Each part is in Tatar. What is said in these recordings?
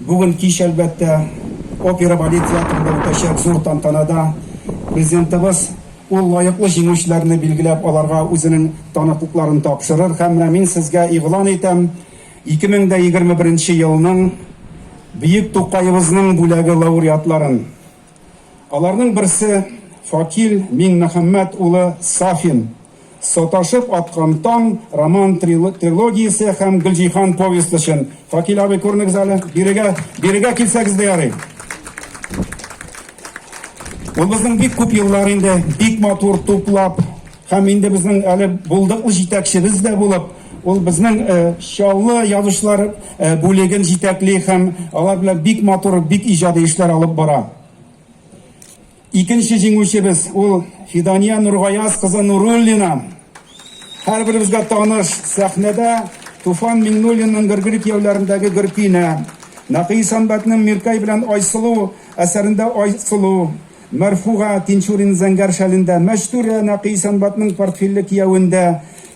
Бүген кич, әлбәттә, Опера балет театрында үтәчәк зур тантанада Президентыбыз ул лаеклы җиңүчеләрне билгеләп, аларга үзенең таныклыкларын тапшырыр һәм менә мин сезгә игълан итәм, 2021 елның Бөек Тукаебызның бүләге лауреатларын. Аларның берсе Факил Миңмөхәммәт улы Сафин. Саташып аткан таң роман трилогиясе һәм Гөлҗиһан повесть өчен. Факил абый күрнегез әле. Бирегә, бирегә килсәгез дә ярый. Ул безнең бик күп еллар инде бик матур туплап Һәм инде безнең әле булдыклы җитәкчебез дә булып, ул безнең Чаллы язучылар бүлеген җитәкли һәм алар белән бик матур, бик иҗади эшләр алып бара. Икенче җиңүчебез ул Фидания Нургаяз кызы Нуруллина. Һәрберебезгә таныш сәхнәдә Туфан Миңнуллинның Гөргер кияүләрендәге Гөркинә, Нәкый Исәнбәтнең Миркәй белән Айсылу әсәрендә Айсылу, Мәрфуга Тинчурина зәңгәр шәлендә, Мәчтүрә Нәкый Сәнбатның портфельле кияүендә,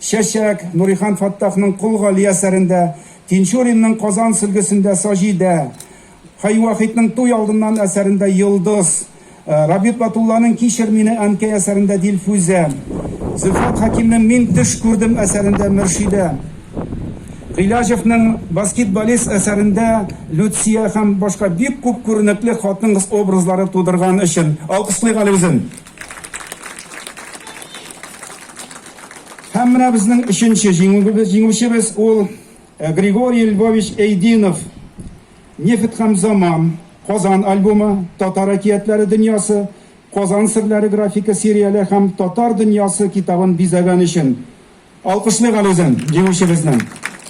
Чәчәк, Нурихан Фаттахның Кол Гали әсәрендә, Тинчуринның Казан сөлгесендә Саҗидә, Хәй Вахитның Туй алдыннан әсәрендә Йолдыз, Рабит Батулланың Кичер мине, әнкәй әсәрендә Дилфүзә, Зөлфәт Хәкимнең Мин төш күрдем әсәрендә Мөршидә, Гыйләҗевның Баскетболист әсәрендә Люция һәм башка бик күп күренекле хатын-кыз образлары тудырган өчен алкышлыйк әле үзен. Һәм менә безнең өченче җиңүчебез, ул Григорий Львович Эйдинов, Нефть һәм заман, Казан альбомы, Татар әкиятләре дөньясы, Казан серләре графика серияле һәм Татар дөньясы китабын бизәгән өчен алкышлыйк әле үзен, җиңүчебезне.